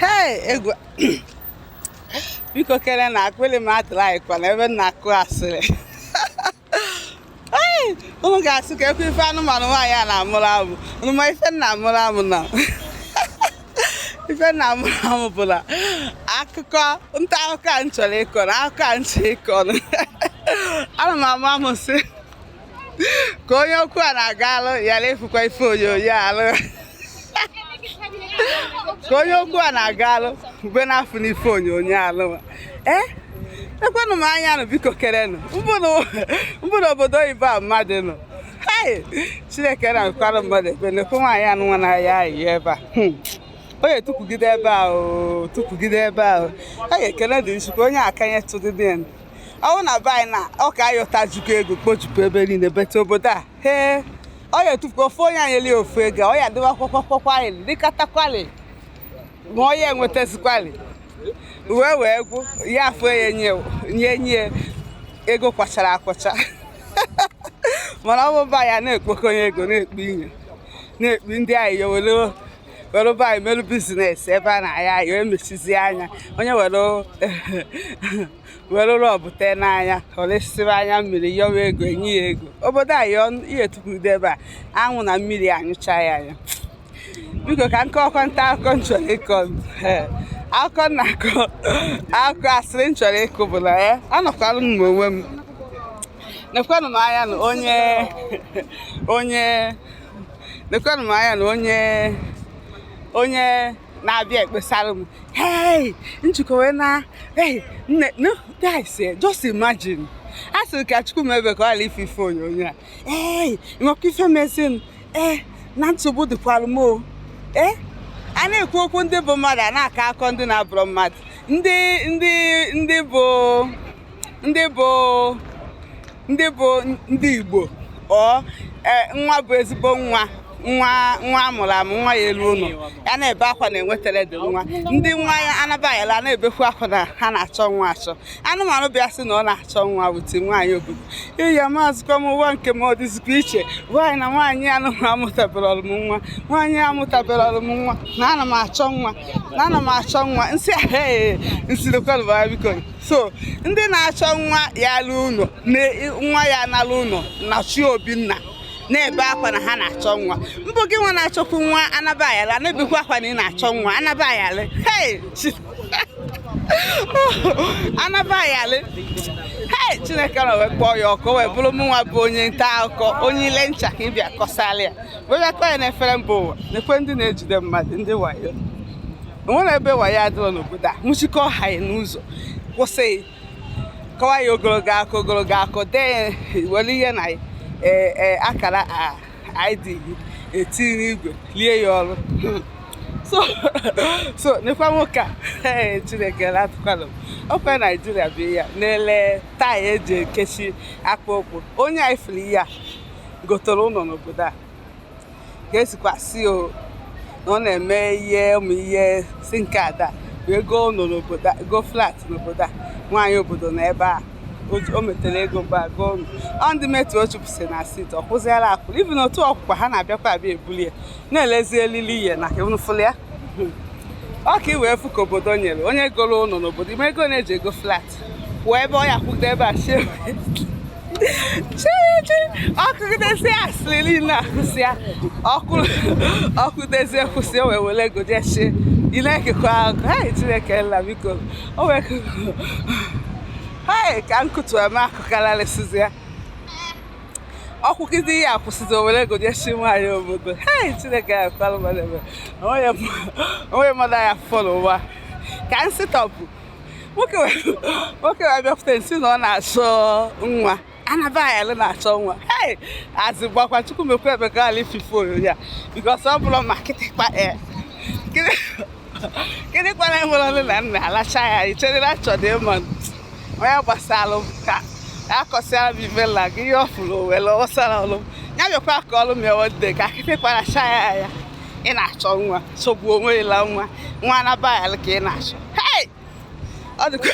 hei egwu biko kere na akpịrị m atụrụ anyị kwana ebe m na-akụ asịrị unu ga-asị kekwa ife anụmanụ nwaanyị a na-amụrụ amụ unu ma ife m na-amụrụ amụ na ife m na-amụrụ amụ bụ na akụkọ nta akụkọ a m chọrọ ịkọ na akụkọ a m chọrọ ịkọ ana m amụ amụ sị ka onye okwu a na-aga alụ ya na-efukwa ife onyonyo alụ ka onye okwu a na-aga alụ ube na-afụ n'ife onyonyo alụ ee eh? ekwenụ m anya nụ biko kerenụ mbụ na obodo oyibo a mmadụ nọ chineke na-akwara mmadụ ekpe na-ekwe nwaanyị anụ nwa na-ayọ ayịyọ ebe a hmm. onye tụpụgide ebe a o tụpụgide ebe a o a ga-ekele dị Chukwu onye akanye tụdịdị ọwụ na be anyị na ọ ka ayọtajukwu ego kpochukwu ebe niile bete obodo a hee ọ ya etufuka ofe onye anyị eli ofu ego ọ ya dịwa kwakwakwakwakwalị dịkatakwalị ma ọ ya enwetazikwalị wee wee gwụ ya afọ ya nye nye nye ego kwachara akwacha mana ọ bụ be anyị a na-ekpokọnye ego na-ekpu inye na-ekpu ndị anyị yowere were be anyị merụ biznes ebe a na-ayọ ayịyọ emechizi anya onye were were Robb tee n'anya o rosịrị anya mmiri yọwa ego e nye ya ego obodo anyị ihe tukwurudo ebe a anwụ na mmiri anyụcha ya anya biko ka m kọkọ nta akụkọ m chọrọ ịkọ akụkọ na-akọ akụkọ asịrị m chọrọ ịkụ bụ na ya anọkwalụ m onwe m nekwanụ m anya na onye onye nekwanụ m anya na onye onye na-abịa ekpesara m hey njikọ wee na hey nne no guys eh, just imagine a sịrị ka Chukwu mebe ka ọ ghara ife ife onyonyo a hey nnekwu ife mezinụ ee eh, na nsogbu dịkwara m o ee eh, a na-ekwu okwu ndị bụ mmadụ a na-akọ akọ ndị na-abụrụ mmadụ ndị ndị ndị bụ ndị bụ ndị bụ ndị Igbo ọ e, nwa bụ ezigbo nwa nwa nwa amụrụ amụ nwa ya elu ụlọ ya na-ebe akwa na-enwetara di nwa ndị nwa ya anabaghịla na-ebekwu akwa na ha na-achọ nwa achọ anụmanụ bịa sị na ọ na-achọ nwa wute nwaanyị obodo iya maazịkwa m ụwa nke m ọ dịzikwa iche nwaanyị na nwaanyị anụmanụ amụtaberọ m nwa nwaanyị amụtaberọ m nwa na ana m achọ nwa na ana m achọ nwa m sị ahụ m sịrịkwa biko so ndị na-achọ nwa ya alụ ụlọ nwa ya na-alụ ụlọ na chi obinna na-ebe akwa na ha na-achọ nwa ọ bụ gị nwa na-achọkwu nwa anaba ayala na-ebekwa akwa na ị na-achọ nwa anaba ayala hey anaba ayala hey chineke nna wee kpọọ ya ọkụ wee bụrụ mụnwa bụ onye nta akụkọ onye ile ncha ka ị bịa kọsara ya wee bịa kọọ ya n'efere mba ụwa nekwa ndị na-ejide mmadụ ndị wayo o nwere ebe wayo adịrọ n'obodo a nwụchikọ ha ya n'ụzọ kwụsị kọwa ya ogologo akọ ogologo akọ dee ya were ihe na e, e, akara id gị etinye n'igwe lie ya ọrụ so so nekwa nwoke a ee chineke na-atụkwala m ọ kwa naijiria bụ ya na-ele taya e ji ekechi akpa okwu onye anyị fụrụ ihe a gotere ụlọ n'obodo a ga-esikwa sị o na ọ na-eme ihe ụmụ ihe si nke ada wee goo ụlọ n'obodo a- goo flat n'obodo a nwaanyị obodo n'ebe a o- o metere ego mgbe a goo ụlọ ọ ndị metu o chụpụsị na sit ọ kwụziela akwụ ibi na otu ọkwụkwa ha na-abịakwa abịa ebuli ya na-elezi elili ihe na ka unu fụlụ ya ọ ka i wee fụ ka obodo nyere onye goro ụlọ n'obodo ime ego na-eji ego flat wee ebe ọ ya kwụgide ebe a chie chiechi ọ kọgidezi asịrị niile akọsị ya ọkụdezi ekwụsị o wee were ego jee chie ile ekekọ ahụ ha chineke nna biko o wee ha ka nkụtu eme akụkararịsịzi ya ọ kwụgide ihe akwụsịzi o were ego jechi nwaanyị obodo hei chineke ya kwalụ mmadụ ebe o nweghị mmadụ ya fọrọ ụwa ka nsịtọpụ nwoke wee bịakwute nsi na ọ na-achọ nwa anaba ayala na-achọ nwa ee azị gbakwa chukwu mekwa emeka ala ifife onyonyo ya because ọ bụrụ ma kịtịkpa ee gịnị kwana nwere ọnụ na nna alacha ya i chere na achọdị ịma onye gbasara ka akọsịara m ibe nna gị ihe ọ fụrụ o were ọsara ọlụ ya bịakwa ka ọlụ m ya wode ka kịtịkpa lacha ya ị na-achọ nwa sogbu onwe ịla nwa nwa anaba ayala ka ị na-achọ ọ dịkwa